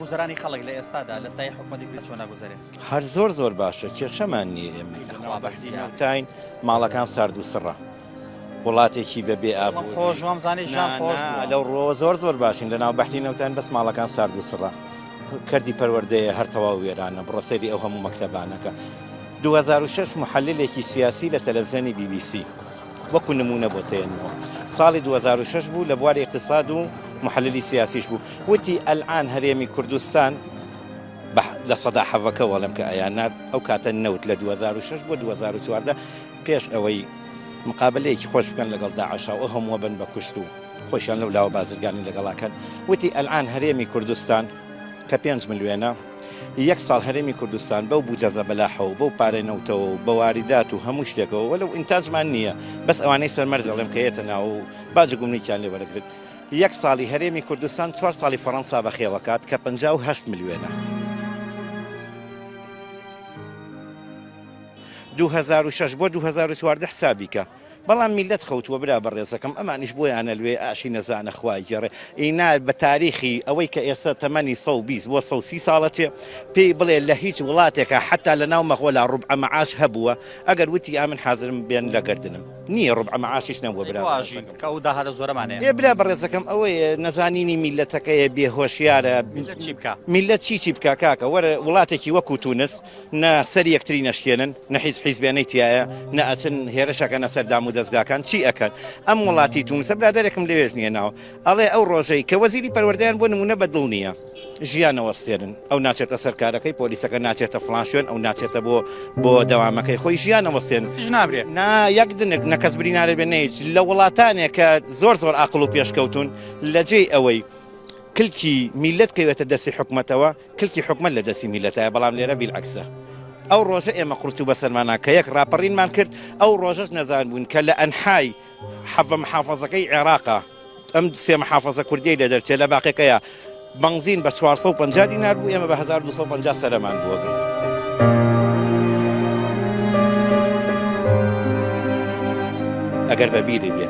گوزەرانی خەڵک لە ئێستادا لە سای حکومەتی کوێ چۆن ناگوزەرێ هەر زۆر زۆر باشە کێشەمان نییە ئێمە بەسیاوتین ماڵەکان سارد و سڕە وڵاتێکی بە بێ ئاب خۆش وام زانانی ژان خۆش لەو ڕۆ زۆر زۆر باشین لە ناو بەحتی نەوتان بەس ماڵەکان سارد و سڕە کردی پەروەردەیە هەر تەواو وێرانە بڕسەری ئەو هەموو مەکتەبانەکە 2006 محللێکی سیاسی لە تەلەڤزیۆنی BBC وەکو نموونە بۆت دەێنمەوە ساڵی دوو هەزار و شەش بوو لە بواری اقتصاد و محللی سیاسیش بوو وتی ئەلئان هەرێمی کوردستان لە سەدا حەڤەکە وەڵم کە ئەیان نرد ئەو کاتە نەوت لە 2006 بۆ 2014 پێش ئەوەی مقابلەیەکی خۆش بکەن لەگەڵ داعشاوە هەمووە بن بە کوشت و خۆشیان لەو لاوە بازرگانی لەگەڵاکەن وتی ئەلان هەرێمی کوردستان کە پێنج ملیێنە ی یەک ساڵ هەرێمی کوردستان بەو بوجە زەبەلاحە و بەو پارەی نەوتەوە و بە واریدات و هەموو شتێکەوە وەلەو ئینتاجمان نییە بەس ئەوانەی سەر مەرز ئەڵێم کە یەتە ناوە و باجە گومرکیان لێ وەرەگرت یەک ساڵی هەرێمی کوردستان چوار ساڵی فەڕەنسا بەخێوەکات کە پەنجا و هەشت ملیۆنە. دوو هەزار و شەش بۆ دوو هەزار و چواردە حسابی کە. بەڵام میلەت خەوتووە برا بەڕێزەکەم ئەمانیش بۆیان ئەلوێ ئاشی نەزانە خوا ئەیگێڕێ ئینا بە تاریخی ئەوەی کە ئێستا تەمەنی سەد و بیست بۆ سەد و سی ساڵە چێ پێی بڵێ لە هیچ وڵاتێکا حەتا لە ناو مەغۆلا ڕوبعە مەعاش هەبووە ئەگەر وتی ئا من حازرم بێن لە گەردنم نییە ڕوبعە مەعاشیش نەبووە برا بەڕێزەکەم. ئێ برا بەڕێزەکەم ئەوەیە نەزانینی میلەتەکەیە بێ هۆشیارە میلەت چی بکا میلەت چی چی بکا کاکە وەرە وڵاتێکی وەکوو تونس نە سەر یەکتری نەشکێنن نە هیچ حیزبێنەی تایە نە ئەچن هێرشەکەنە سەر دام و دەستگاکان چی ئەکەن ئەم وڵاتی تونسە برادێکم لەوێژ نیە ناوە ئەڵێ ئەو ڕۆژەی کە وەزیری پەروەردەیان بۆ نمونە بە دڵ نییە ژیانەوە سێنن ئەو ناچێتە سەرکارەکەی پۆلیسەکە ناچێتە فلان شوێن ئەو ناچێتە بۆ بۆ دەوامەکەی خۆی ژیانەوە سێن نابرێ نا یەک دنک نەکەس برینارە بێ نەیچ لە وڵاتانێک کە زۆر زۆر ئاقل و پێشکەوتون لە جێی ئەوەی کلکی میلەت کەوێتە دەستی حکومەتەوە کلکی حکومەت لە دەستی میلەتایە بەڵام لێرە بیل عەکسە ئەو ڕۆژە ئێمە قورتوو بەسەرمانا کە یەک ڕاپەڕینمان کرد ئەو ڕۆژەش نەزان بوون کە لە ئەنحای حەڤە محافەزەکەی عێراقا ئەم سێ محافەزە کوردی لە دەرچێ لە باقیەکەیە بەنزین بە 450 دینار بوو ئێمە بە 1250 سەرمان بووە گرت. ئەگەر بەبیری بێ.